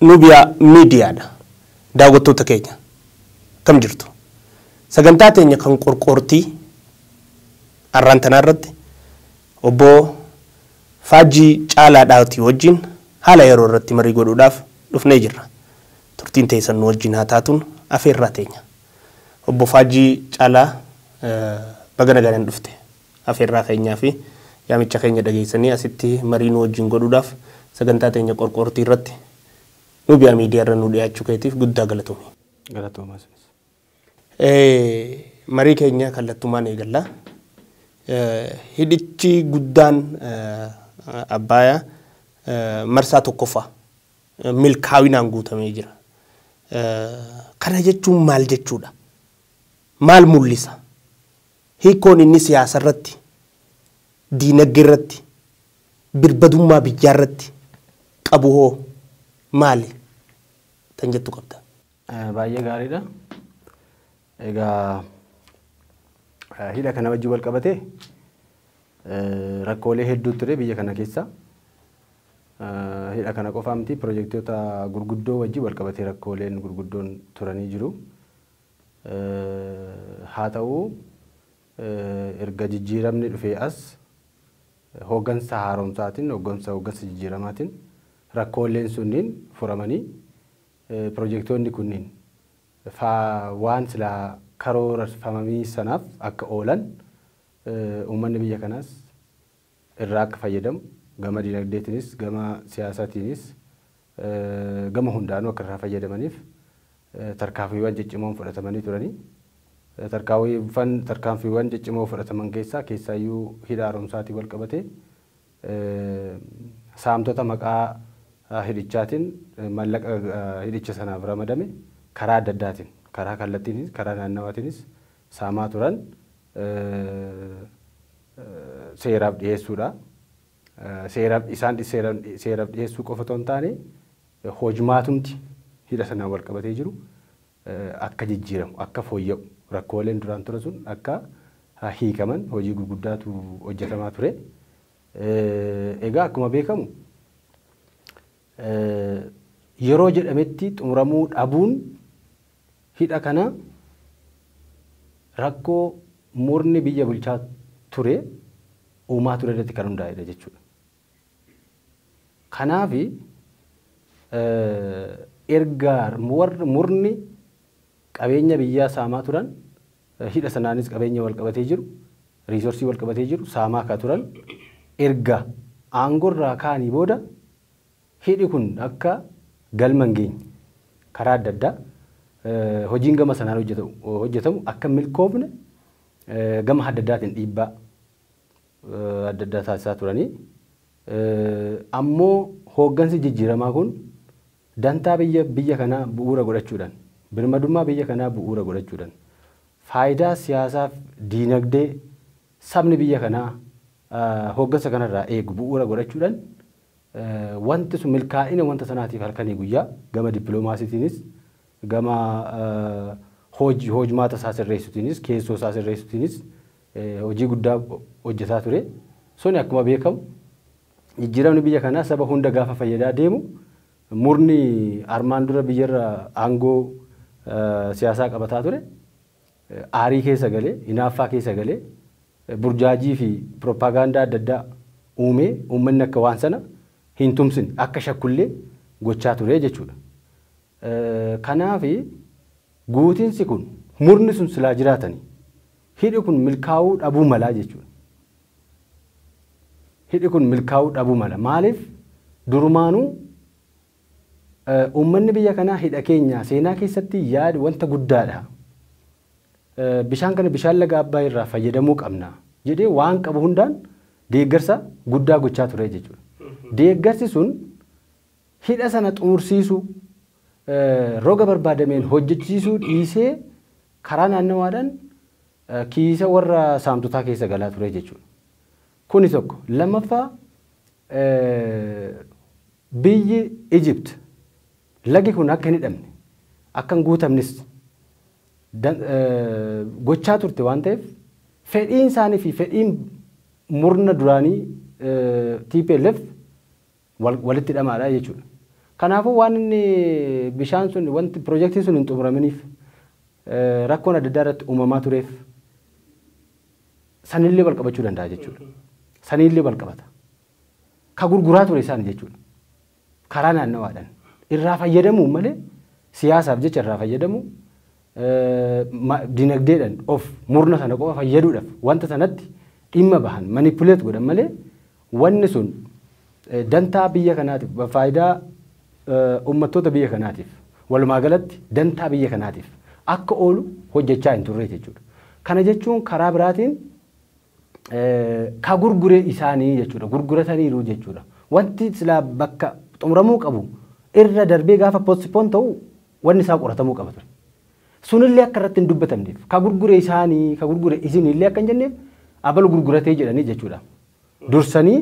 Nubia media dha daawwattoota keenya akkam jirtu sagantaa teenya kan qorqoortii arraan tanaa irratti obboo faajjii caalaa dhaatii wajjiin haala yeroo irratti marii godhuudhaaf dhufnee jirra turtiin teessan nu wajjiin haa taatuun afeerraa teenya obbo faajjii caalaa baga nagaadhan dhufte. Afeerraa keenyaa fi yaamicha keenya dhageessanii asitti marii nu wajjin godhuudhaaf sagantaa teenya Qorqoortii irratti Nubia Media irra nu dhiyaachuu keetiif guddaa galatomi. Galatoomaa isinis. Marii keenya kallattumaan eegalla. Hidhichi guddaan Abbaaya marsaa 1ffaa milkaawinaan guutamee jira. Kana jechuun maal jechuudha? Maal mul'isa? Hiikkoon inni siyaasarratti, diinaggerratti, birbadummaa biyyaarratti qabu hoo maali tan jettu qabdaa? Baay'ee gaariidha. Egaa hidha kana wajjin walqabatee rakkoolee hedduu ture biyya kana keessa. Hidha kana qofaa miti pirojektoota gurguddoo wajjin walqabatee rakkooleen gurguddoon turanii jiru. Haata'u, erga jijjiiramni dhufee as hoggansa haaromsaatiin, hoggansa hoggansa jijjiiramaatiin rakkoolleen sunniin furamanii piroojektoonni kunniin faa waan silaa karoorfamamii sanaaf akka oolan uummanni biyya kanaas irraa akka fayyadamu, gama dinagdeetiinis, gama siyaasatiinis gama hundaanuu akka irraa fayyadamaniif tarkaanfiiwwan ciccimoon fudhatamanii turani. Tarkaanfiiwwan tarkaanfiiwwan ciccimoo fudhataman keessaa keessaayyuu hidha haaromsaatiin walqabatee saamtota maqaa hidhichaatiin mallaqa hidhicha sanaaf ramadame karaa adda addaatiin karaa kallattiinis karaa naannawaatiinis saamaa turan seeraaf dhiheessuudha. Seeraaf isaan seeraaf dhiheessuu qofa otoo hin taane hojmaatumti hidha sanaan wal qabatee jiru akka jijjiiramu akka fooyya'u rakkooleen duraan ture sun akka hiikaman hojii gurguddaatu hojjetamaa ture. Egaa akkuma beekamu yeroo jedhametti xumuramuu dhabuun hidha kana rakkoo murni biyya bulchaa ture uumaa ture irratti kan hundaa'edha jechuudha. Kanaaf erga murni qabeenya biyyaa saamaa turan hidha sanaanis qabeenya walqabatee jiru, resource walqabatee jiru saamaa akka turan erga aangorraa ka'anii booda hidhi kun akka galma hin geenye karaa adda addaa hojiin gama sanaan hojjetamu akka hin milkoofne gama adda addaatiin dhiibbaa adda addaa taasisaa turanii ammoo hooggansi jijjiiramaa kun Dantaa biyya biyya kanaa bu'uura godhachuudhan, birmadummaa biyya kanaa bu'uura godhachuudhan, faayidaa siyaasaaf diinagdee sabni biyya kanaa hooggansa kana irraa eegu bu'uura godhachuudhan wanti sun milkaa'ina wanta sanaatiif halkanii guyyaa gama dippiloomaasiitiinis gama hoj hojmaata isaa sirreessutiinis keessoo isaa sirreessutiinis hojii guddaa hojjetaa ture. Suni akkuma beekamu jijjiiramni biyya kanaa saba hunda gaafa fayyadaa deemu murni armaan dura biyyarra aangoo siyaasaa qabataa ture aarii keessa galee, hinaaffaa keessa galee, burjaajii fi piroppaagaandaa adda addaa uumee uummanni akka waan sana hin tumsine, akka shakkullee gochaa ture jechuudha. Kanaaf guutinsi kun murni sun silaa jiraatanii hidhi kun milkaa'uu dhabuu malaa jechuudha. Hidhi kun milkaa'uu dhabuu mala. Maaliif durumaanuu uummanni biyya kanaa hidha keenya seenaa keessatti yaad wanta guddaadha. Bishaan kana bishaan laga Abbaay irraa fayyadamuu qabna jedhee waan qabu hundaan deeggarsa guddaa gochaa ture jechuudha. Deeggarsi sun hidha sana xumursiisuu roga barbaadameen hojjechiisuu dhiisee karaa naannawaadhaan kiisa warra saamtotaa keessa galaa ture jechuudha. Kuni tokko. Lammaffaa biyyi Egypt lagi kun akka hin hidhamne akka hin guutamnes gochaa turte waan ta'eef fedhiin isaanii fi fedhiin murna duraanii TPLF walitti hidhamaadha jechuudha. Kanaafuu waan inni bishaan sun wanti pirojektiin sun hin xumuraminiif rakkoon adda addaa irratti uumamaa tureef sanillee wal qabachuu danda'a jechuudha. Sanillee wal qabata. Ka gurguraa ture isaan jechuudha. Karaa naannawaadhaan irraa fayyadamuun malee siyaasaaf jecha irraa fayyadamu dinagdeedhaan of murna sana qofa fayyaduudhaaf wanta sanatti dhimma bahan manipuleet godhan malee Wanni sun dantaa biyya kanaatiif, faayidaa ummattoota biyya kanaatiif, walumaa galatti dantaa biyya kanaatiif akka oolu hojjechaa hin turre jechuudha. Kana jechuun karaa biraatiin ka gurgure isaanii jechuudha. Gurgurataniiru jechuudha. Wanti silaa bakka xumuramuu qabu irra darbee gaafa postpone ta'u wanni isaa qoratamuu qaba ture. Sunillee akka irratti hin dubbatamneef ka gurgure isaani ka gurgure isiniillee akka hin jenneef abalu gurguratee jedhanii jechuudha. Dursanii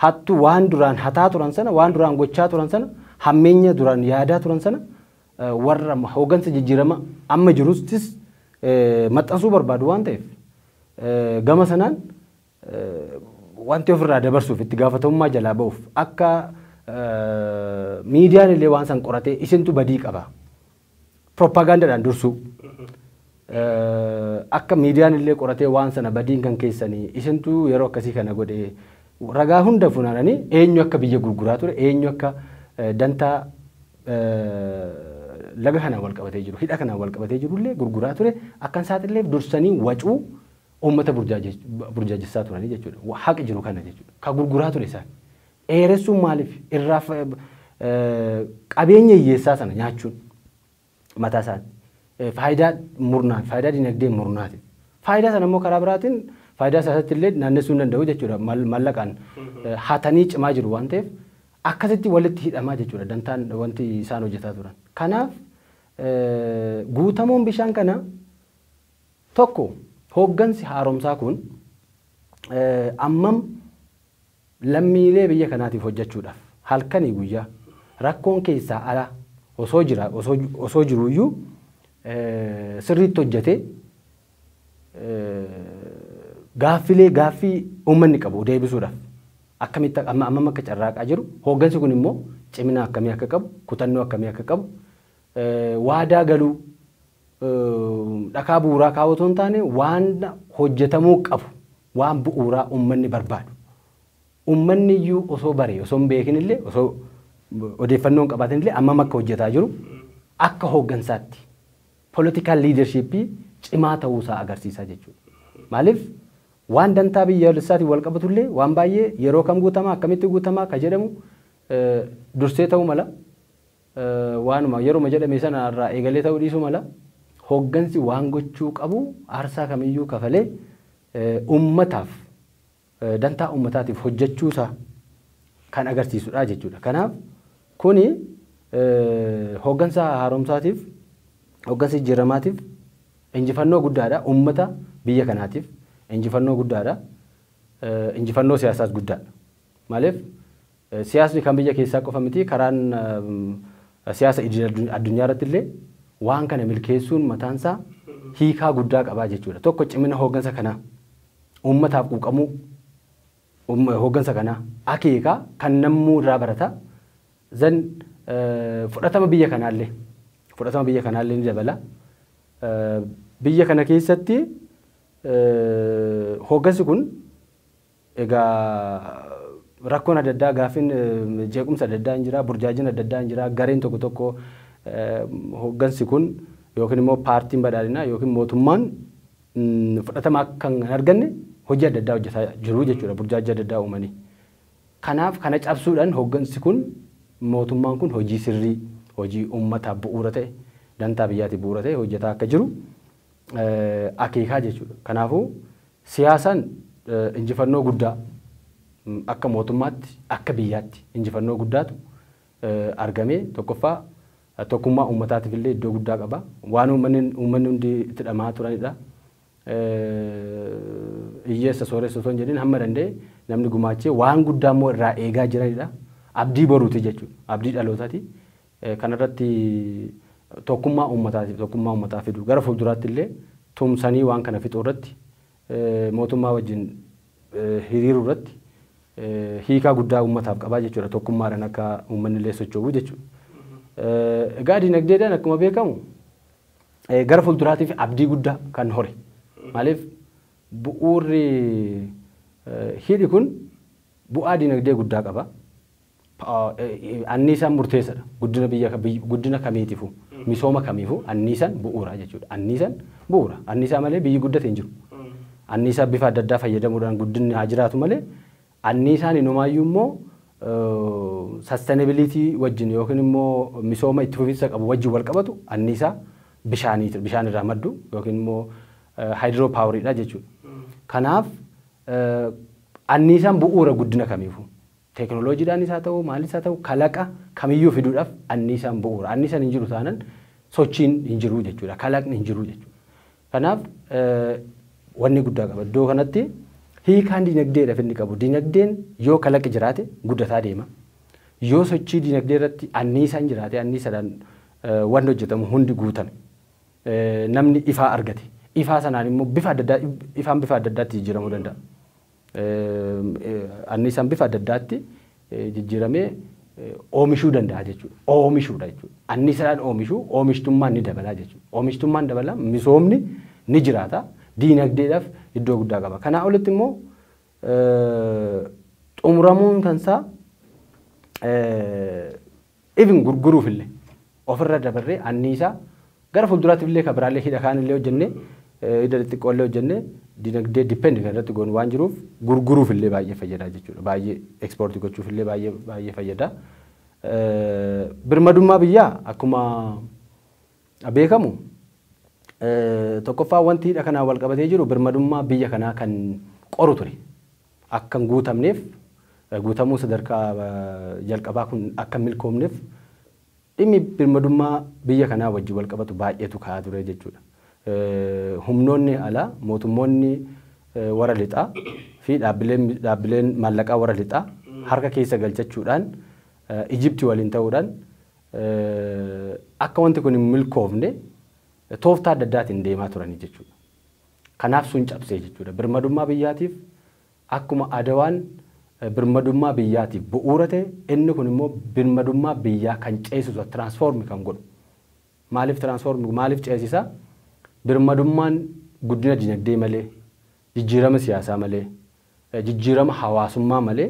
hattu waan duraan hataa turan sana waan duraan gochaa turan sana hammeenya duraan yaadaa turan sana warra hoogansa jijjiirama amma jirustis maxxansuu barbaadu waan ta'eef gama sanaan wanti ofirraa dabarsuuf itti gaafatamummaa jalaa ba'uuf akka miidiyaan illee waan san qoratee isintu badii qaba Propagandadhaan dursuu. Akka miidiyaan illee qoratee waan sana badiin kan keessanii isintu yeroo akkasii kana godhe ragaa hunda funaananii eenyu akka biyya gurguraa ture eenyu akka dantaa laga kanaan wal qabatee jiru hidha kanaan wal qabatee jiru illee gurguraa ture akkan saaxilleef dursanii wacuu uummata burjaajessaa turanii jechuudha. Haqi jiru kana jechuudha. Ka gurguraa ture isaan. dheeressuun maaliif irraa qabeenya hiyyeessaa sana nyaachuun mataa isaatti faayidaa murnaan faayidaa dinagdee murnaatiin faayidaa sana immoo karaa biraatiin faayidaa isaatti illee naannessuu hin danda'u jechuudha mallaqaan hatanii cimaa jiru waan ta'eef akkasitti walitti hidhamaa jechuudha dantaan wanti isaan hojjetaa turan kanaaf guutamuun bishaan kana tokko hooggansi haaromsaa kun ammam Lammiilee biyya kanaatiif hojjachuudhaaf halkanii guyyaa rakkoon keessaa ala osoo jira osoo jiruu iyyuu sirriitti hojjatee gaaffilee gaaffii uummanni qabu deebisuudhaaf akkamitti amma ammam akka carraaqaa jiru hooggansi kun immoo cimina akkamii akka qabu kutannoo akkamii akka qabu waadaa galuu dhakaa bu'uuraa kaa'uu otoo hin taane waan hojjetamuu qabu waan bu'uuraa uummanni barbaadu uummanni iyyuu osoo baree osoo hin beekin illee osoo odeeffannoo hin qabaatin illee ammam akka hojjetaa jiru akka hooggansaatti political leadership cimaa ta'uu isaa agarsiisaa jechuudha. Maaliif waan dantaa biyyaalessaatiin wal qabatu illee waan baay'ee yeroo kam guutamaa akkamitti guutamaa ka jedhamu dursee ta'uu mala Waanuma yeruma jedhame sana irraa eegalee ta'uu dhiisuu mala, hooggansi waan gochuu qabu aarsaa kamiyyuu kafalee uummataaf, dantaa uummataatiif hojjechuu isaa kan agarsiisu dha jechuu dha. Kanaaf kuni hooggansa haaromsaatiif, hooggansa jijjiirramaatiif injifannoo guddaa dha, uummata biyya kanaatiif injifannoo guddaa dha, injifannoo siyaasaas guddaa dha. Maaliif Siyaasni kan biyya keessaa qofa miti karaan siyaasa idil addunyaarratti illee waan kana milkeessuun mataansaa hiikaa guddaa qaba jechuudha. Tokko cimina hooggansa kanaa, uummataaf quuqamuu hooggansa kanaa akeeka kan nammuu irraa barata. Then fudhatama biyya kanaallee fudhatama biyya kanaallee ni dabala. Biyya kana keessatti hooggansi kun Egaa rakkoon adda addaa, gaaffiin jeequmsa adda addaa hin jira, burjaajin adda addaa hin jira, gareen tokko tokko hooggansi kun yookiin immoo paartiin badhaadhinaa yookiin mootummaan fudhatama akka hin arganne hojii adda addaa hojjetaa jiru jechuudha burjaajii adda addaa uumanii. Kanaaf kana cabsuudhaan hooggansi kun mootummaan kun hojii sirrii, hojii uummataaf bu'uura ta'e, dantaa biyyaatiif bu'uura ta'e hojjetaa akka jiru akeekaa jechuudha. Kanaafuu Siyaasaan injifannoo guddaa akka mootummaatti, akka biyyaatti injifannoo guddaatu argame. Tokkoffaa tokkummaa uummataatiif illee iddoo guddaa qaba. Waan uummanni hundi itti dhama'aa turanidha. Hiyyeessa, sooressa osoo hin jedhin hamma danda'e namni gumaachee waan guddaa immoo irraa eegaa jiranidha. Abdii boruuti jechuudha. Abdii dhalootaati. Kana irratti tokkummaa uummataati, tokkummaa uummataa fiduu. Gara fuulduraatti illee tumsanii waan kana fixuu irratti mootummaa wajjin hiriiruu irratti hiikaa guddaa uummataaf qaba jechuudha. Tokkummaadhaan akka uummanni illee socho'u jechuudha. Egaa dinagdeedhaan akkuma beekamu gara fuulduraatiif abdii guddaa kan hore. Maaliif bu'uurri hidhi kun bu'aa dinagdee guddaa qaba. Anniisaan murteessadha. Guddina biyya guddina kamiitifu misooma kamiifu anniisan bu'uura jechuudha. Anniisan bu'uura. Anniisaa malee biyyi guddate hin jiru. Anniisaa bifa adda addaa fayyadamuudhaan guddinni haa jiraatu malee anniisaan inumaayyuu immoo sustainability wajjin yookiin immoo misooma itti fufinsa qabu wajjin wal qabatu anniisaa bishaaniiti bishaan irraa maddu yookiin immoo hydro power dha jechuudha. Kanaaf anniisaan bu'uura guddina kamiifu. Teeknooloojiidhaanis haa ta'u maalis haa ta'u kalaqa kamiyyuu fiduudhaaf anniisaan bu'uura. Anniisaan hin jiru taanan sochiin hin jiru jechuudha. Kalaqni hin jiru jechuudha. Kanaaf wanni guddaa qaba. Iddoo kanatti hiikaan dinagdeedhaaf inni qabu dinagdeen yoo kalaqi jiraate guddataa deema. Yoo sochii dinagdee irratti anniisaan jiraate anniisaadhaan wanni hojjetamu hundi guutame. Namni ifaa argate. Ifaa sanaan immoo bifa adda addaa ifaan bifa adda addaatti jijjiiramuu danda'a. anniisaan bifa adda addaatti jijjiiramee oomishuu danda'a jechuudha. Oomishuudha jechuudha. Anniisaadhaan oomishuu oomishtummaan ni dabalaa jechuudha. Oomishtummaan dabala misoomni ni jiraata. Diinagdeedhaaf iddoo guddaa qaba. Kanaa olitti immoo xumuramuun kansaa Even gurguruufillee ofirra dabarree anniisaa gara fuulduraatiifillee kan biraallee hidha kaanillee hojjennee hidha xixxiqqoollee hojjennee dinagdee depend kan irratti goonu waan jiruuf gurguruufillee baay'ee fayyada jechuudha. Baay'ee export gochuufillee baay'ee baay'ee fayyada. Birmadummaa biyyaa akkuma beekamu tokkoffaa wanti hidha kanaan wal qabatee jiru birmadummaa biyya kanaa kan qoru ture. akka hin guutamneef, guutamuun sadarkaa jalqabaa kun akka hin milkoomneef dhimmi birmadummaa biyya kanaa wajjin walqabatu baay'eetu ka'aa ture jechuudha. Humnoonni alaa, mootummoonni warra lixaa fi dhaabbileen maallaqaa warra lixaa harka keessa galchachuudhaan Ijipti waliin ta'uudhaan akka wanti kun hin milkoofne tooftaa adda addaatiin deemaa turani jechuudha. Kanaaf sun cabsee jechuudha. Birmadummaa biyyaatiif akkuma Adawaan birmadummaa biyyaatiif bu'uura ta'e inni kun immoo birmadummaa biyyaa kan ceesisuudha, transform kan godhu. Maaliif transform maaliif ceesisa? Birmadummaan guddina dinagdee malee, jijjiirama siyaasaa malee, jijjiirama hawaasummaa malee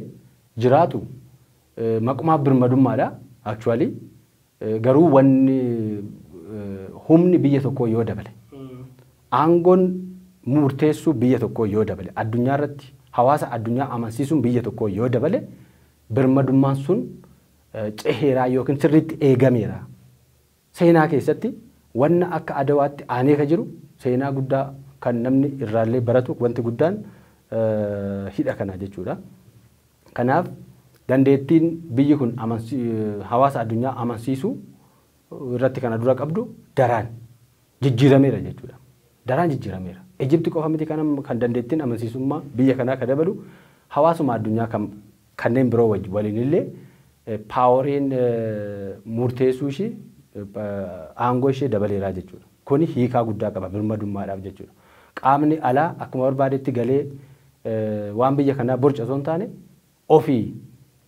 jiraatu maqumaa birmadummaadha actually garuu wanni humni biyya tokkoo yoo dabale aangoon murteessuu biyya tokkoo yoo dabale addunyaa irratti hawaasa addunyaa amansiisuun biyya tokkoo yoo dabale birmadummaan sun ceheeraa yookiin sirriitti eegameera Seenaa keessatti wanna akka Adawaatti aanee ka jiru seenaa guddaa kan namni irraallee baratu wanti guddaan hidha kana jechuudha. Kanaaf dandeettiin biyyi kun hawaasa addunyaa amansiisuu irratti kana dura qabdu daraan jijjiirameera jechuudha. Daraan jijjiirameera. Ijipti qofa miti kan dandeettiin amansiisummaa biyya kanaa ka dabalu hawaasuma addunyaa kan kanneen biroo wajjin waliin illee paaworiin murteessuu ishii aangoo ishee dabaleeraa jechuudha. Kuni hiikaa guddaa qaba birmadummaadhaaf jechuudha. Qaamni alaa akkuma barbaadetti galee waan biyya kanaa borcu osoo hin taane ofii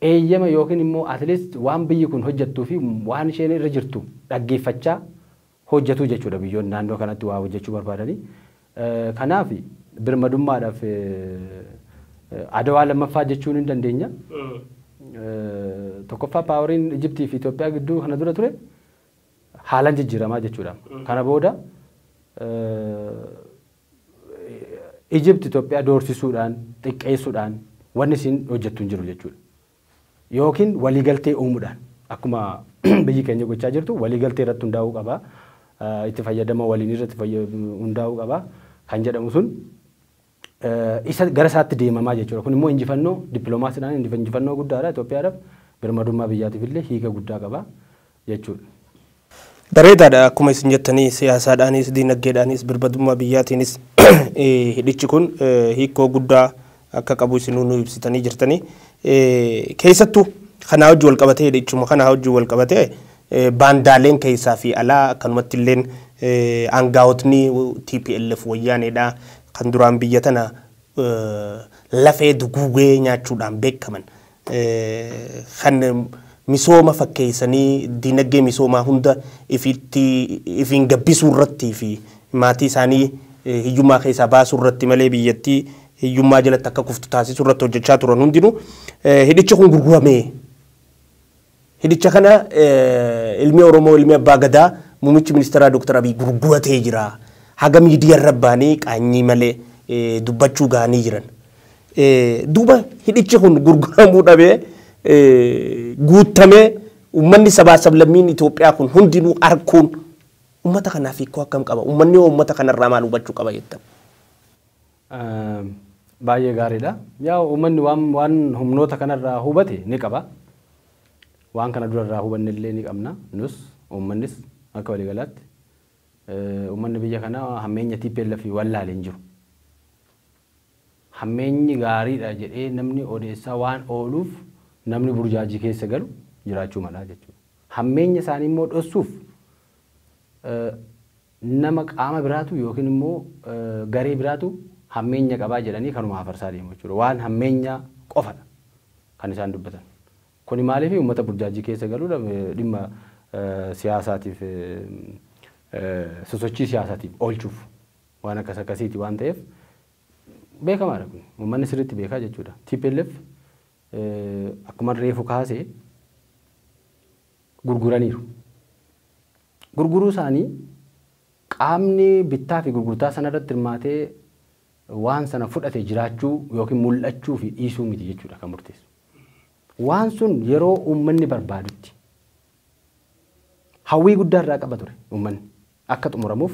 eeyyama yookiin immoo at least waan biyyi kun hojjettuu fi waan isheen irra jirtu dhaggeeffachaa hojjetu jechuudha biyyoonni naannoo kanatti waa hojjechuu barbaadanii. Kanaaf birmadummaadhaaf Adawaa lammaffaa jechuu ni dandeenya. Tokkoffaa paawariin Ijiptii fi Itoophiyaa gidduu kana dura ture haalan jijjiiramaa jechuudha. Kana booda Ijipti Itoophiyaa doorsisuudhaan, xiqqeessuudhaan wanni isin hojjettu hin jiru jechuudha. yookiin waliigaltee uumuudhaan akkuma biyyi keenya gochaa jirtu waliigaltee irratti hundaa'uu qaba, itti fayyadama waliinii irratti hundaa'uu qaba kan jedhamu sun isa gara isaatti deemamaa jechuudha. Kun immoo injifannoo dippiloomaasiidhaan injifannoo guddaadha Itoophiyaadhaaf, birmadummaa biyyaatiif illee hiika guddaa qaba. jechuudha. Bareedaadha akkuma isin jettanii siyaasaadhaanis diinaggeedhaanis birbadummaa biyyaatiinis hidhichi kun hiikkoo guddaa akka qabu isinuu nu ibsitanii jirtanii. Keessattuu kanaa wajjin wal qabatee hidhichuma kanaa wajjin wal qabatee baandaaleen keessaa fi alaa akkanumatti illeen aangaa'otni TPLF wayyaaneedha kan duraan biyya tana lafee duguugee nyaachuudhaan beekaman kan misooma fakkeessanii diinagdee misoomaa hunda ifitti ifiin gabbisuu irratti fi maatii isaanii hiyyummaa keessaa baasuu irratti malee biyyattii hiyyummaa jalatti akka kuftu taasisuu irratti hojjechaa turan hundinuu hidhichi kun gurguramee Hidhicha kana ilmi Oromoo, ilmi Abbaa Gadaa, Muummichi Ministeeraa Dr. Abiy gurguratee jira. Haga miidiyarra bahanii qaanyii malee dubbachuu gahanii jiran. Duuba hidhichi kun gurguramuu dhabee guuttamee ummanni sabaa sablammiin Itoophiyaa kun hundinuu arkuun ummata kanaaf hiikkoo akkam qaba? Ummanni hoo ummata kanarraa maal hubachuu qaba jettan? Baay'ee gaariidha. Yaa uummanni waan waan humnoota kanarraa hubate ni qaba. Waan kana dura irraa hubanne illee ni qabna. Nus uummannis akka waliigalaatti uummanni biyya kana hammeenya TPLF wallaale hin jiru. Hammeenyi gaariidha jedhee namni odeessaa waan ooluuf namni burjaajii keessa galu jiraachuu mala jechuudha. Hammeenya isaanii immoo dhossuuf Nama qaama biraatu yookiin immoo garee biraatu hammeenya qaba jedhanii kanuma hafarsaa deemu jechuudha. Waan hammeenyaa qofadha kan isaan dubbatan. Kuni maaliifi uummata burjaajjii keessa galuudha dhimma siyaasaatiif sosochii siyaasaatiif oolchuuf waan akkas akkasiiti waan ta'eef beekamaadha kuni. Uummanni sirriitti beekaa jechuudha. Tplf akkuman reefu kaase gurguraniiru. gurguruu isaanii qaamni bittaa fi gurgurtaa sana irratti hirmaate waan sana fudhate jiraachuu yookiin mul'achuu fi dhiisuu miti jechuudha kan murteessu. Waan sun yeroo uummanni barbaadutti hawwii guddaa irraa qaba ture uummanni akka xumuramuuf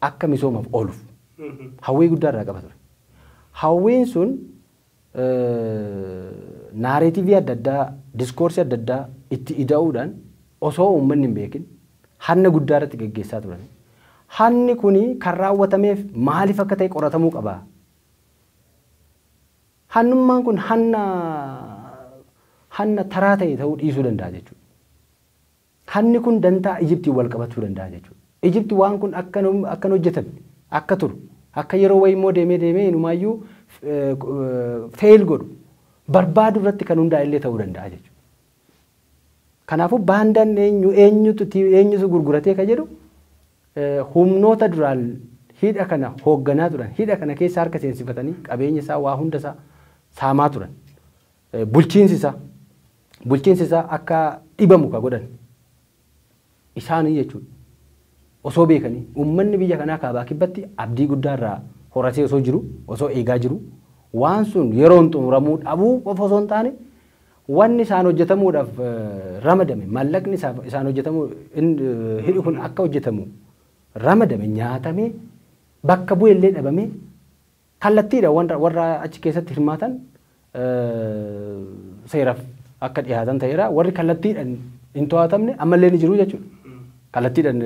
akka misoomaaf ooluuf hawwii guddaa irraa qaba ture. Hawwiin sun naareetivii adda addaa, diskoorsii adda addaa itti ida'uudhaan osoo uummanni hin beekin hanna guddaa irratti geggeessaa turani. Hanni kuni kan raawwatameef maaliif akka ta'e qoratamuu qaba. Hannummaan kun hanna hanna taraa ta'e ta'uu dhiisuu danda'a jechuudha. Hanni kun dantaa Ijiptiin wal qabatuu danda'a jechuudha. Ijipti waan kun akka akka hin hojjetamne, akka turu, akka yeroo wayii immoo deemee deemee inumaayyuu fail godhu barbaadu irratti kan hundaa'e illee ta'uu danda'a jechuudha. Kanaafuu baandaan eenyu eenyutu eenyutu gurguratee ka jedhu humnoota duraan hidha kana hoogganaa turan hidha kana keessa harka seensifatanii qabeenya isaa waa hunda isaa saamaa turan bulchiinsi isaa bulchiinsi isaa akka dhibamu ka godhan isaanii jechuudha. Osoo beekanii uummanni biyya kanaa kaabaa kibbatti abdii guddaa irraa horatee osoo jiru osoo eegaa jiru waan sun yeroon xumuramuu dhabuu qofa osoo hin taane wanni isaan hojjetamuudhaaf ramadame mallaqni isaaf isaan hojjetamuu hidhi kun akka hojjetamu ramadame nyaatamee bakka bu'ellee dhabamee Kallattiidha warra achi keessatti hirmaatan seeraf akka dhihaatan ta'eera. Warri kallattiidhan hin to'atamne ammallee ni jiru jechuudha. Kallattiidhan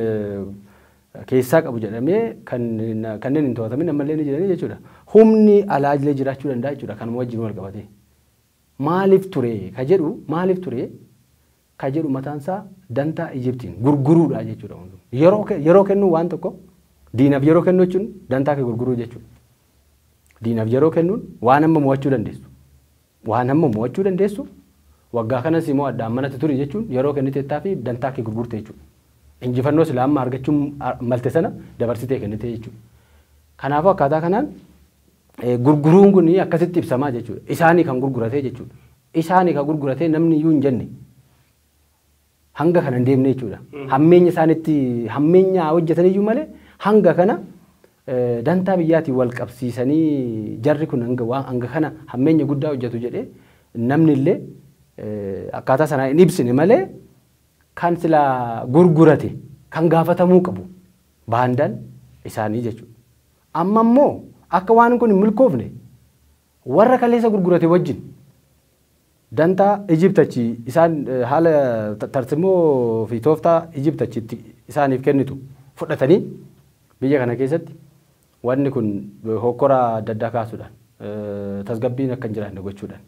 keessaa qabu jedhamee kanneen hin to'atamin ammallee ni jiranii jechuudha. Humni alaajlee jiraachuu danda'a jechuudha kanuma wajjin wal qabatee. Maaliif ture ka jedhu maaliif ture ka jedhu mataan isaa dantaa Ijiptiin gurguruudha jechuudha hunduu. Yeroo kee yeroo kennuu waan tokko diinaf yeroo kennuu jechuun dantaa kee gurguruu jechuudha. Diinaf yeroo kennuun waan amma mo'achuu dandeessu waan amma mo'achuu dandeessu waggaa kana si mo'adha ammanatti turi jechuun yeroo kenniteettaa fi dantaa kee gurgurte jechuudha. Injifannoo silaa amma argachuu malte sana dabarsitee kennite jechuudha. Kanaafuu akkaataa kanaan Gurguruun kun akkasitti ibsamaa jechuudha. Isaanii kan gurguratee jechuudha. Isaanii kan gurguratee namni iyyuu hin jenne hanga kana hin deemne jechuudha. Hammeenya isaanitti hammeenya hojjetaniyyuu malee hanga kana dantaa biyyaatiin wal qabsiisanii jarri kun hanga kana hammeenya guddaa hojjetu jedhee namni illee akkaataa sanaa hin ibsine malee kan sila gurgurate kan gaafatamuu qabu baandaan isaanii jechuudha. Amma immoo akka waan kun hin milkoofne warra kaleessa gurgurate wajjin dantaa Egypt achi isaan haala tarsimoo fi tooftaa Egypt achi itti isaaniif kennitu fudhatanii biyya kana keessatti wanni kun hokkora adda addaa kaasuudhaan tasgabbiin akka hin jiraanne gochuudhaan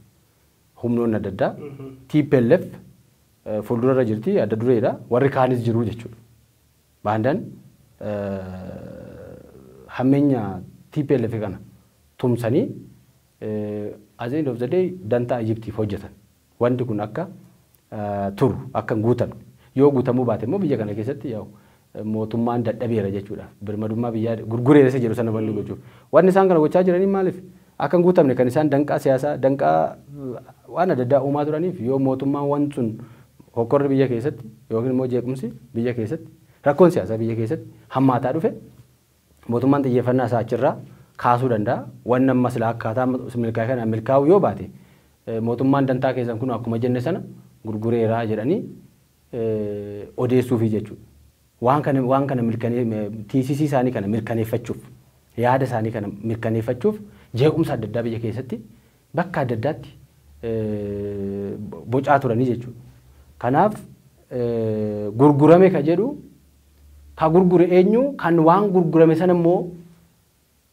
humnoonni adda addaa TPLF fuuldurarra jirti adda dureedha warri kaanis jiru jechuudha. Baandaan hammeenya tplf kana tumsanii at the end of the day dantaa Egyptiif hojjetan. Wanti kun akka turu, akka hin guutamne. Yoo guutamuu baate immoo biyya kana keessatti yaa'u mootummaan dadhabeera jechuudhaaf. Birmadummaa biyyaa gurgureera isa jedhu sana wanni gochuuf. Wanni isaan kana gochaa jiranii maaliif? akka hin guutamne kan isaan danqaa siyaasaa, danqaa waan adda addaa uumaa turaniif yoo mootummaan wanti sun hokkorri biyya keessatti yookiin immoo jeequmsi biyya keessatti, rakkoon siyaasaa biyya keessatti hammaataa dhufe mootummaan xiyyeeffannaa isaa achirraa kaasuu danda'a. Wanni amma silaa akkaataa amma milkaa'e kanaan milkaa'uu yoo baate mootummaan dantaa keessan kunoo akkuma jenne sana gurgureera jedhanii odeessuufi jechuudha. Waan kana waan kana mirkane tiisisii isaanii kana mirkaneeffachuuf yaada isaanii kana mirkaneeffachuuf jeequmsa adda addaa biyya keessatti bakka adda addaatti bocaa turanii jechuudha. Kanaaf gurgurame ka jedhu ka gurgure eenyu kan waan gurgurame sana immoo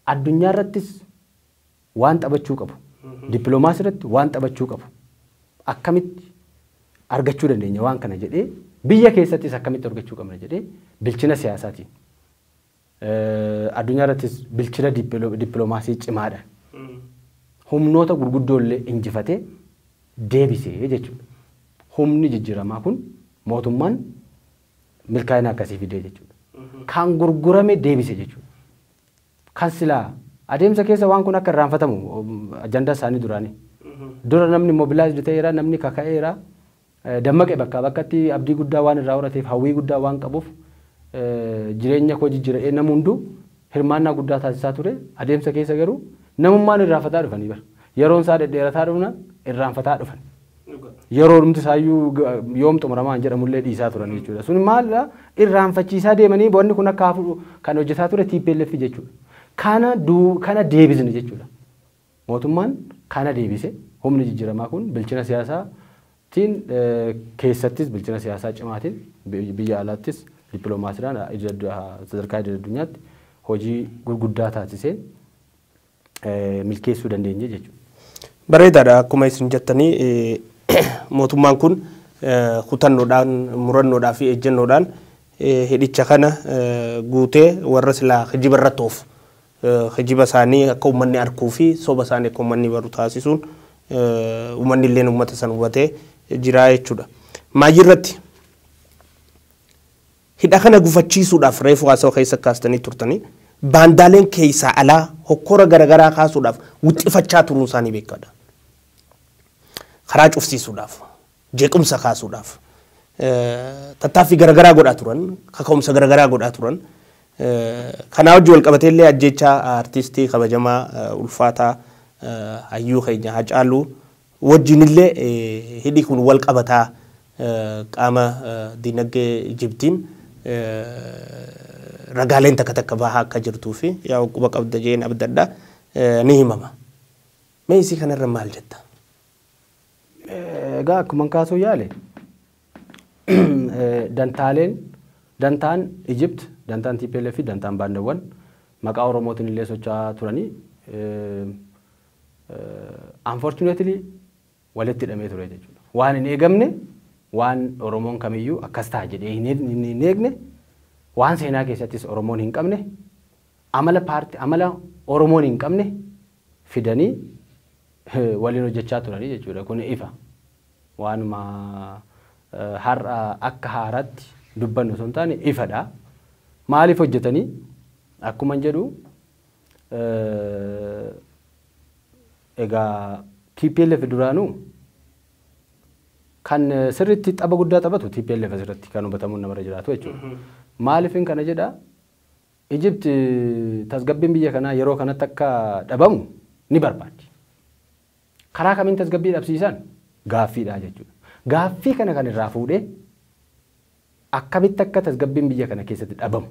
addunyaa irrattis waan taphachuu qabu, dippilomaasii irratti waan taphachuu qabu akkamitti argachuu dandeenya waan kana jedhee biyya keessattis akkamitti argachuu qabna jedhee bilchina siyaasaatiin eh, addunyaa irrattis bilchina dippilo- dippilomaasii cimaadhaan humnoota gurguddoo illee injifatee deebisee jechuudha. Humni jijjiiramaa kun mootummaan milkaa'ina akkasii fidee jechuudha. Kan gurgurame deebise jechuudha. Kan silaa adeemsa keessa waan kun akka irraanfatamu ajandaa isaanii duraani. Dura namni mobilized ta'eera, namni kaka'eera, dammaqe bakkaa bakkatti abdii guddaa waan irraa horateef, hawwii guddaa waan qabuuf jireenya koo jijjiira jedhee namni hunduu hirmaannaa guddaa taasisaa ture. Adeemsa keessa garuu namummaan irraanfataa dhufanii bara. Yeroon isaa dhedheerataa dhufnaan irraanfataa dhufan. yeroo dhumti isaayyuu ga- yoom xumuramaa hin jedhamullee dhiisaa turan jechuudha. Sun maalla irraanfachiisaa deemanii wanni kun akka hafu kan hojjetaa ture TPLF jechuudha. Kana duu- kana deebisne jechuudha. Mootummaan kana deebise humni jijjiiramaa kun bilchina siyaasaatiin eh, keessattis bilchina siyaasaa cimaatiin bi- biyya alaattis dippiloomaasiidhaan idil addu- sadarkaa idil addunyaatti hojii gurguddaa taasiseen milkeessuu dandeenye jechuudha. Bareedaadha akkuma isin jettanii mootummaan kun kutannoodhaan murannoodhaa fi ejjennoodhaan hidhicha kana guutee warra silaa kijiba irratti oofu kijiba isaanii akka uummanni arkuu fi soba isaanii akka uummanni baru taasisuun uummanni illee uummata san hubatee jiraa jechuudha. Maayii irratti Hidha kana gufachiisuudhaaf reefu haasawa keessa kaastanii turtanii baandaaleen keessaa alaa hokkora garagaraa kaasuudhaaf wixxifachaa turuun isaanii beekkaadha. Karaa cufsiisuudhaaf, jeequmsa kaasuudhaaf tattaaffii garagaraa godhaa turan, kaka'umsa garagaraa godhaa turan. Kanaa wajjin wal qabatee illee ajjeechaa artistii kabajamaa ulfaataa hayyuu keenya Hacaaluu wajjinillee hidhi kun wal qabata. Qaama diinagdee Ijiptiin ragaaleen takka takka bahaa akka jirtuu fi yaa'u quba qabda jedheen abdadha. Ni himama. Mee isii kanarra maal jetta? Egaa akkuman kaasuu yaale dantaaleen dantaan Ijipt, dantaan TPLF fi dantaan baandawwan maqaa Oromootiin illee socho'aa turanii Unfortunately walitti hidhamee ture jechuudha. Waan hin eegamne waan Oromoon kamiyyuu akkas ta'a jedhee hin eeg- hin- hin eegne waan seenaa keessattis Oromoon hin qabne amala paarti amala Oromoon hin qabne fidanii eh, waliin hojjechaa turanii jechuudha. Kun ifa. Waanuma eh, har'a akka haaraatti dubbannu osoo hin taane ifadha. Maaliif hojjetanii? Akkuman jedhu Egaa tplf duraanuu kan sirriitti xaba guddaa taphatu tplf asirratti kan hubatamuun namarra jiraatu jechuudha. Maaliifin kana jedha Ijipti tasgabbiin biyya kanaa yeroo kanatti akka dhabamu ni barbaaddi. Karaa kamiin tasgabbii dhabsiisan? Gaaffiidha jechuudha. Gaaffii kana kan irraa fuudhee akkamitti akka tasgabbiin biyya kana keessatti dhabamu,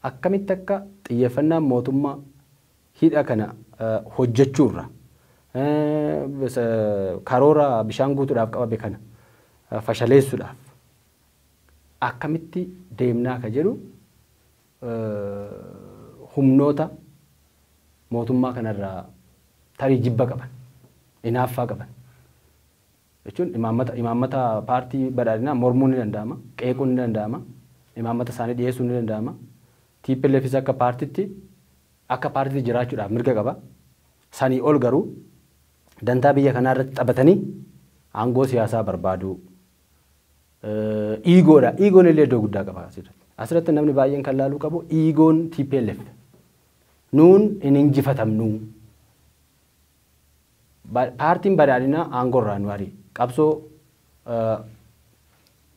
akkamitti akka xiyyeeffannaan mootummaa hidha kana hojjechuurraa, karoora bishaan guutuudhaaf qabame kana fashaleessuudhaaf akkamitti deemnaa ka jedhu humnoota mootummaa kana irraa tarii jibba qaban, inaaffaa qaban jechuun imaammata imaammata paartii badhaadhinaa mormuun ni danda'ama, qeequun ni danda'ama, imaammata isaanii dhiyeessuun ni danda'ama. TPLFis akka paartitti akka paartitti jiraachuudhaaf mirga qaba. Sanii ol garuu dantaa biyya kanaa irratti taphatanii aangoo siyaasaa barbaaduu Iigoodha. Iigoon illee iddoo guddaa qaba asirratti. Asirratti namni baay'een kan laaluu qabu iigoon TPLF. Nuun hin injifatamnuu. Paartiin badhaadhinaa aangorraa nu ari'e. Qabsoo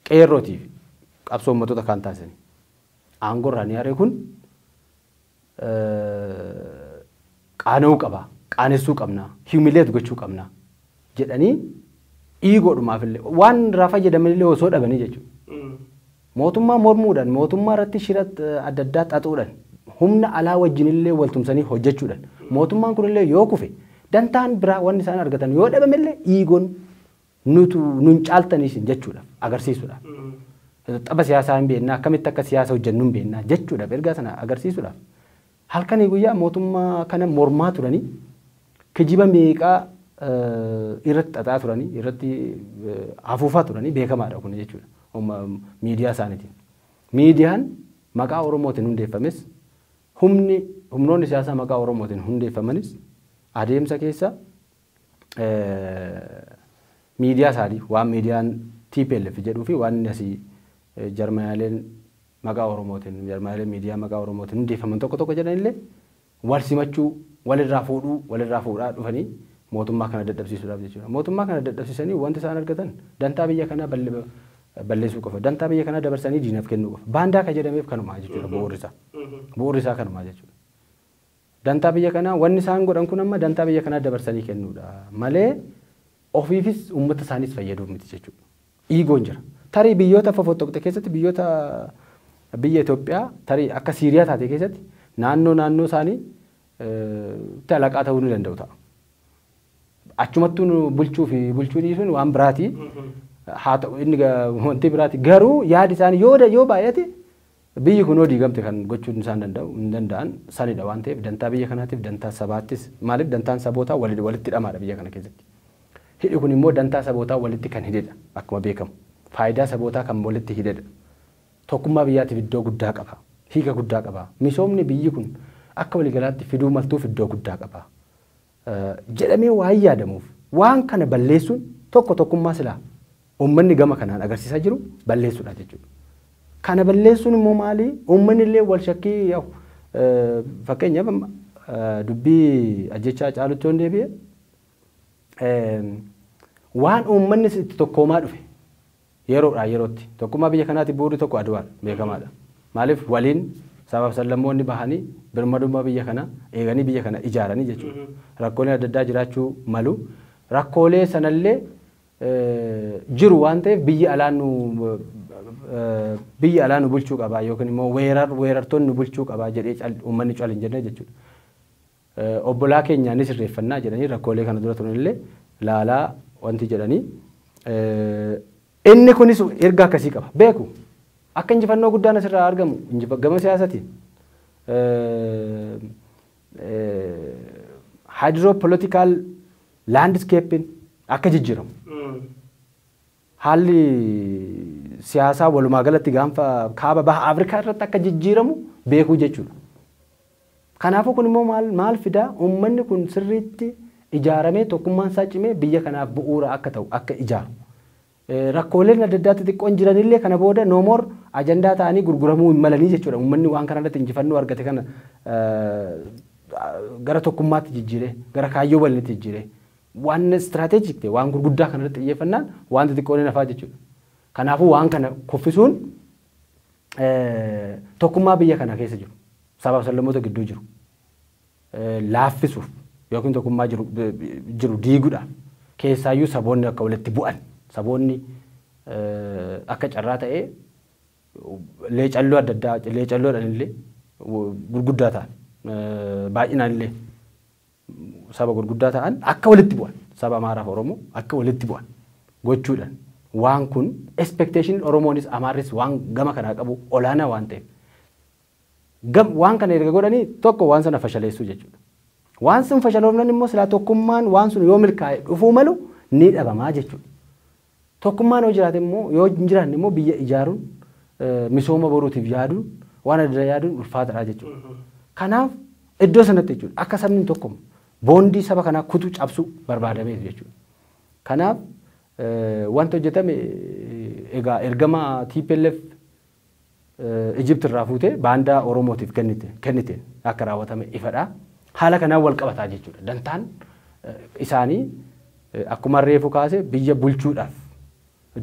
qeerrootiif qabsoo uummattoota kaan taasisanii. Aangorraa ni ari'e kun qaana'uu qaba, qaanessuu qabna, humiliate gochuu qabna jedhanii iigoodhumaafillee waan irraa fayyadamanillee osoo dhabanii jechuudha. Mootummaa mormuudhaan, mootummaa irratti shira adda addaa xaxuudhaan, humna alaa wajjinillee wal tumsanii hojjechuudhaan, mootummaan kunillee yoo kufe dantaan biraa wanni isaan argatan yoo dhabamellee iigoon nutu nun caaltanii isin jechuudhaaf agarsiisuudhaaf tapha siyaasaa hin beekna akkamitti akka siyaasa hojjennu hin beekna jechuudhaaf ergaa sana agarsiisuudhaaf halkanii guyyaa mootummaa kana mormaa turanii kijiba meeqaa eh, irratti xaxaa turanii irratti eh, afuufaa turanii beekamaadha kun jechuudha Umma- miidiyaa isaaniitiin. Miidiyaan maqaa Oromootiin hundeeffames humni humnoonni siyaasaa maqaa Oromootiin hundeeffamanis adeemsa keessa miidiyaa isaanii waan miidiyaan tplf jedhuu fi waan inni asii jarmayaaleen maqaa Oromootiin jarmayaaleen miidiyaa maqaa Oromootiin hundeeffaman tokko tokko jedhanillee wal simachuu walirraa fuudhuu walirraa fuudhaa dhufanii mootummaa kana dadhabsiisuudhaaf jechuudha. Mootummaa kana dadhabsiisanii wanti isaan argatan dantaa biyya kanaa balleessuu qofa. Dantaa biyya kanaa dabarsanii diinaaf kennuu qofa. Baandaa ka jedhameef kanumaa jechuudha bu'uurri isaa. Bu'uurri isaa kanumaa jechuudha. Dantaa biyya kanaa wanni isaan godhan kun amma dantaa biyya kanaa dabarsanii kennuudha malee ofiifis uummata isaaniis fayyaduuf miti jechuudha. Iigoon jira. Tarii biyyoota fofottoqxe keessatti biyyoota biyya Itoophiyaa tarii akka Siiriyaa taate keessatti naannoo naannoo isaanii itti alaqaa ta'uu ni danda'u ta'a. Achumattuu nu bulchuu fi bulchuu dhiisuun waan biraati. Haa ta'u inni ga- wanti biraati. Garuu yaadi isaanii yoo da- yoo baay'ate Biyyi kunoo diigamte kan gochuun isaan danda'u hin danda'an sanidha waan ta'eef dantaa biyya kanaatiif dantaa sabaattis maaliif dantaan sabootaa waliin walitti hidhamaadha biyya kana keessatti. Hidhi kun immoo dantaa sabootaa walitti kan hidhedha akkuma beekamu. Faayidaa sabootaa kan walitti hidhedha. Tokkummaa biyyaatiif iddoo guddaa qaba. Hiika guddaa qaba. Misoomni biyyi kun akka waliigalaatti fiduu maltuuf iddoo guddaa qaba. jedhamee waan yaadamuuf waan kana balleessuun tokko tokkummaa silaa ummanni gama kanaan agarsiisaa jiru balleessuudha jechuudha. Kana balleessuun immoo maali? Ummanni illee wal shakkii yaa'u. Fakkeenyaaf amma dubbii ajjechaa caalutti yoon deebi'e waan ummannis itti tokkoomaa dhufe Yeroodhaa yerootti tokkummaa biyya kanaatiif bu'uurri tokko Adwaan beekamaadha. Maaliif waliin sabaaf sablammoonni bahanii birmadummaa biyya kanaa eeganii biyya kana ijaaranii jechuudha. Rakkooleen adda addaa jiraachuu malu. Rakkoolee sanallee jiru waan ta'eef biyyi alaa nu biyyi alaa nu bulchuu qaba yookiin immoo weerartoonni nu bulchuu qaba jedhee uummanni cal hin jenne jechuudha. Obbolaa keenya ni sirreeffannaa jedhanii rakkoolee kana dura turan illee laalaa wanti jedhanii inni kunis erga akkasii qaba. Beeku akka injifannoo guddaan asirraa argamu gama siyaasatiin hydropolitical landscaping akka jijjiiramu. Haalli siyaasaa walumaa galatti gaanfa kaaba baha Afrikaa irratti akka jijjiiramu beekuu jechuudha. Kanaafuu kun immoo maal, maal fida? Uummanni kun sirriitti ijaaramee tokkummaan isaa cimee biyya kanaaf bu'uura akka ta'u, akka ijaaru. Rakkooleen adda addaa xixiqqoon jiranillee kana booda no more ajandaa ta'anii gurguramuu hin malanii jechuudha. Uummanni waan kana irratti injifannoo argate kana gara tokkummaatti jijjiiree, gara kaayyoo waliinitti jijjiiree. Waan strategic ta'e, waan gurguddaa kana irratti xiyyeeffannaan waan xixiqqoon hin hafaa jechuudha. Kanaafuu waan kana kuffisuun tokkummaa biyya kana keessa jiru, sabaa fi sablammoota gidduu jiru laaffisuuf yookiin tokkummaa jiru, jiru diiguudhaaf keessaayyuu saboonni akka walitti bu'an, saboonni akka carraa ta'ee leecalloo adda addaa, leecalloodhaan illee gurguddaa ta'an baay'inaan illee saba gurguddaa ta'an akka walitti bu'an saba Amaaraa fi Oromoo akka walitti bu'an gochuudhaan waan kun expectation Oromoonis Amaarris waan gama kanaa qabu olaanaa waan ta'eef gam waan kana erga godhanii tokko waan sana fashaleessuu jechuudha. Waan sun fashaloofnan immoo silaa tokkummaan waan sun yoo milkaa'e dhufuu malu ni dhabamaa jechuudha. Tokkummaan yoo jiraate immoo yoo hin jiraanne immoo biyya ijaaruun misooma boruutiif yaaduun waan adda yaaduun ulfaataadha jechuudha. Kanaaf iddoo sanatti jechuudha akka sabni hin tokkomu boondii saba kanaa kutu cabsuu barbaadameef jechuudha. Kanaaf wanti hojjetame egaa ergama TPLF Egypt irraa fuutee baandaa Oromootiif kennite, kennite akka raawwatame ifadha. Haala kanaan wal qabataa jechuudha. Dantaan isaanii akkuma reefu kaase biyya bulchuudhaaf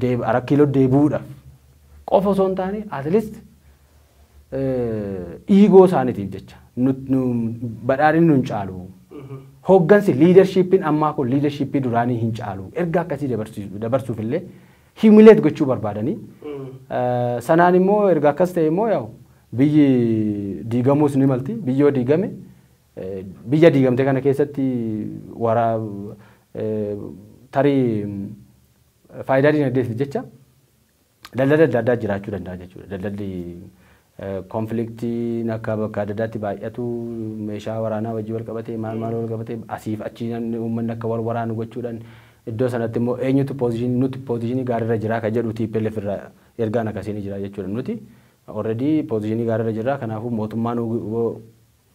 deeb, arak kiiloo deebi'uudhaaf qofa osoo hin taane at least dhiigoo isaaniitiif jecha nut- nu- badhaadhinni nun caalu hooggansi liidarshiippiin ammaa kun liidarshiippii duraanii hin caalu erga akkasii dabarsiisu- dabarsuuf illee humiliate gochuu barbaadanii sanaan immoo erga akkas ta'e immoo yaa'u biyyi diigamuus ni malti biyyi yoo diigame biyya diigamte kana keessatti waraa tarii faayidaa dinagdeetiif jecha daldala adda addaa jiraachuu danda'a jechuudha daldalli Konfliktiin akka bakka adda addaatti baay'atu, meeshaa waraanaa wajjin wal qabatee, maal maal wal qabatee asiif achi namni uummanni akka wal waraanu gochuudhaan iddoo sanatti immoo eenyutu position nuti position gaarii irra jira kan jedhu tplf irraa ergaan akkasii ni jira jechuudha. Nuti already position gaarii irra jirra kanaafuu mootummaan wbo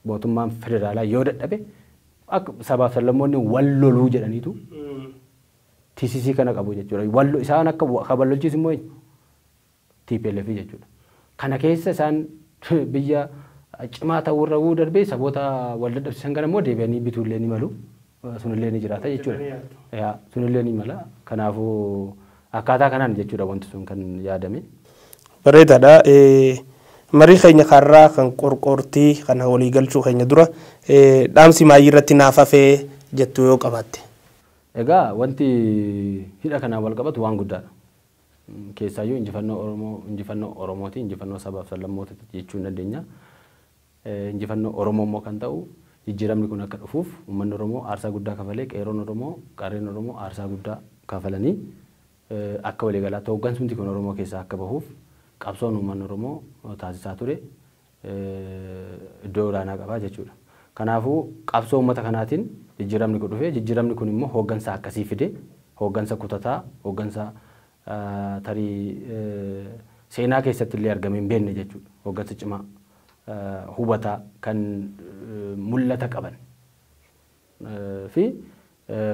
mootummaan federaalaa yoo dadhabe akka sabaaf sablammoonni wal loluu jedhaniitu tcc kana qabu jechuudha. Wal isaan akka kan wal lolchiisu immoo eenyu? tplf jechuudha. Kana keessa isaan biyya cimaa ta'uu irra wuu darbee saboota wal dadhabsiisan kana immoo deebi'anii bituu illee ni malu. Sun illee ni jiraata jechuudha. Sun illee ni mala. Kanaafuu akkaataa kanaan jechuudha wanti sun kan yaadame. Bareedaadha. Marii keenya kaarraa kan qorqoortii kana walii galchuu keenya dura dhaamsi maayii irratti naaf hafee jettu yoo qabaatte. Egaa wanti hidha kanaan wal qabatu waan guddaadha. Keessaayyuu injifannoo Oromoo injifannoo Oromooti, injifannoo sabaaf sablammootati jechuu ni dandeenya. Injifannoo Oromoo immoo kan ta'u jijjiiramni kun akka dhufuuf uummanni Oromoo aarsaa guddaa kafalee, qeerroon Oromoo, qarreen Oromoo aarsaa guddaa kafalanii akka waliigalaatti hooggansumti kun Oromoo keessaa akka bahuuf qabsoon uummanni Oromoo taasisaa ture iddoo olaanaa qaba jechuudha. Kanaafuu qabsoo uummata kanaatiin jijjiiramni kun dhufe. Jijjiiramni kun immoo hooggansa akkasii fide. Hooggansa kutataa, hooggansa tarii seenaa keessatti illee argamee hin beekne jechuudha. Hooggansa cimaa, hubataa, kan mul'ata qaban. fi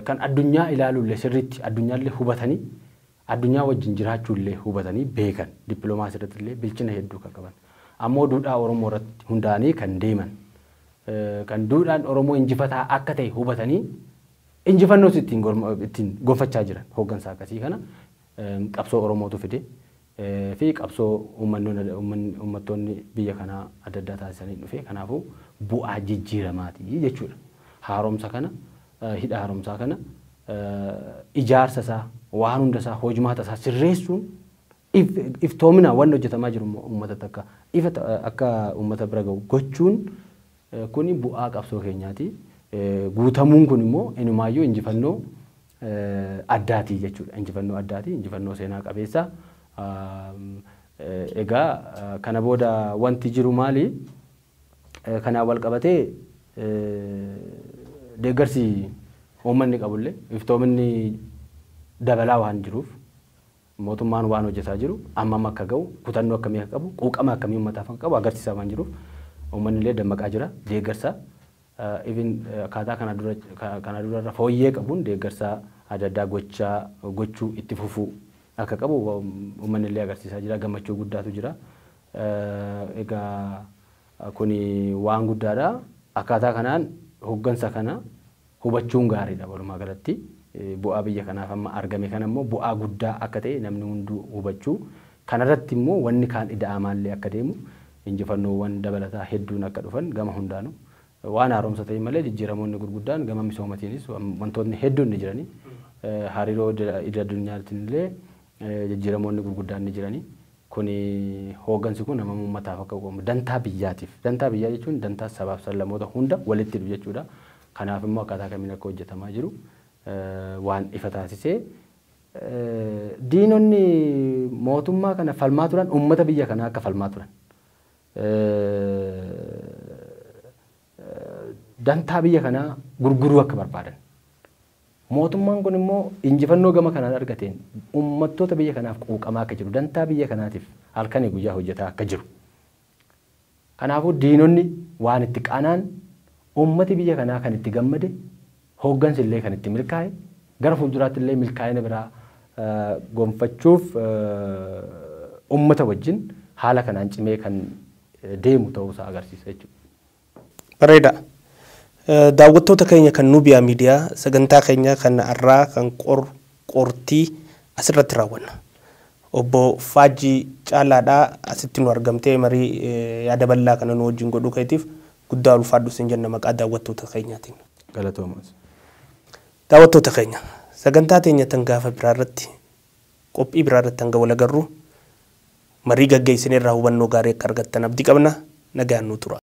kan addunyaa ilaalulle sirriitti addunyaalle hubatanii addunyaa wajjin jiraachuulle hubatanii beekan dippilomaasii irrattillee bilchina hedduu kan qaban ammoo duudhaa Oromoo irratti hundaa'anii kan deeman kan duudhaan Oromoo injifataa akka ta'e hubatanii injifannoos ittiin ittiin gonfachaa jiran hooggansa akkasii kana qabsoo Oromootu fide fi qabsoo uummattoonni biyya kanaa adda addaa taasisaniin dhufe. Kanaafuu bu'aa jijjiiramaati jechuudha. Haaromsa kana, hidha haaromsaa kana ijaarsa isaa, waan hunda isaa, hojmaata isaa sirreessuun iftoominaan wanni hojjetamaa jiru immoo uummatatti akka ifa akka uummata bira gahu gochuun kuni bu'aa qabsoo keenyaati. Guutamuun kun immoo inumaayyuu injifannoo addaati jechuudha. Injifannoo addaati, injifannoo seenaa qabeessa. Egaa kana booda wanti jiru maali? Kanaan wal qabatee deeggarsi uummanni qabullee iftoominni dabalaa waan jiruuf mootummaan waan hojjetaa jiru ammam akka ga'u kutannoo akkamii akka qabu quuqama akkamii uummataaf akka qabu agarsiisaa waan jiruuf uummanni illee dammaqaa jira deeggarsa even akkaataa kana dura kana dura irra fooyyee qabuun deeggarsa adda addaa gochaa gochuu itti fufuu akka qabu uummanni illee agarsiisaa jira gammachuu guddaatu jira egaa kuni waan guddaadha akkaataa kanaan hoggansa kana hubachuun gaariidha walumaa galatti bu'aa biyya kanaaf amma argame kana immoo bu'aa guddaa akka ta'e namni hunduu hubachuu Kana irratti immoo wanni kaan ida'amaa illee akka deemu, injifannoowwan dabalataa hedduun akka dhufan gama hundaanu waan haaromsa ta'in malee jijjiiramoonni gurguddaan gama misoomatiinis wantootni hedduun ni jirani. Hariiroo idil addunyaatiin illee jijjiiramoonni gurguddaan ni jirani. Kuni hooggansi kun hammam uummataaf akka qoomu, dantaa biyyaatiif, dantaa biyyaa jechuun dantaa sabaaf sablammoota hunda walitti hidhu jechuudha. Kanaaf immoo akkaataa kamiin akka hojjetamaa jiru waan ifa taasisee Diinonni mootummaa kana falmaa turan uummata biyya kanaa akka falmaa turan. Dantaa biyya kanaa gurguruu akka barbaadan. Mootummaan kun immoo injifannoo gama kanaan argateen uummattoota biyya kanaaf quuqamaa akka jiru, dantaa biyya kanaatiif halkanii guyyaa hojjetaa akka jiru Kanaafuu diinonni waan itti qanaan, uummati biyya kanaa kan itti gammade, hooggansi illee kan itti milkaa'e, gara fuulduraatti illee milkaa'ina biraa gonfachuuf uummata wajjin haala kanaan cimee kan deemu ta'uu isaa agarsiisa jechuudha. Bareeda. Daawwattoota keenya kan Nubia Media sagantaa keenya kan arraa kan qor qortii asirratti raawwanna. Obbo Faajjii Caalaadha asitti nu argamtee marii yaada bal'aa kana nu wajjin godhuu keetiif guddaa ulfaadhu sin jenna maqaa daawwattoota keenyaatiin. Galatoomas. Daawwattoota keenya sagantaa teenya tan gaafa biraa irratti Qophii biraa irratti hanga wal agarru marii gaggeessine irraa hubannoo gaarii akka argattan abdii qabna. Nagaan nuu turaa.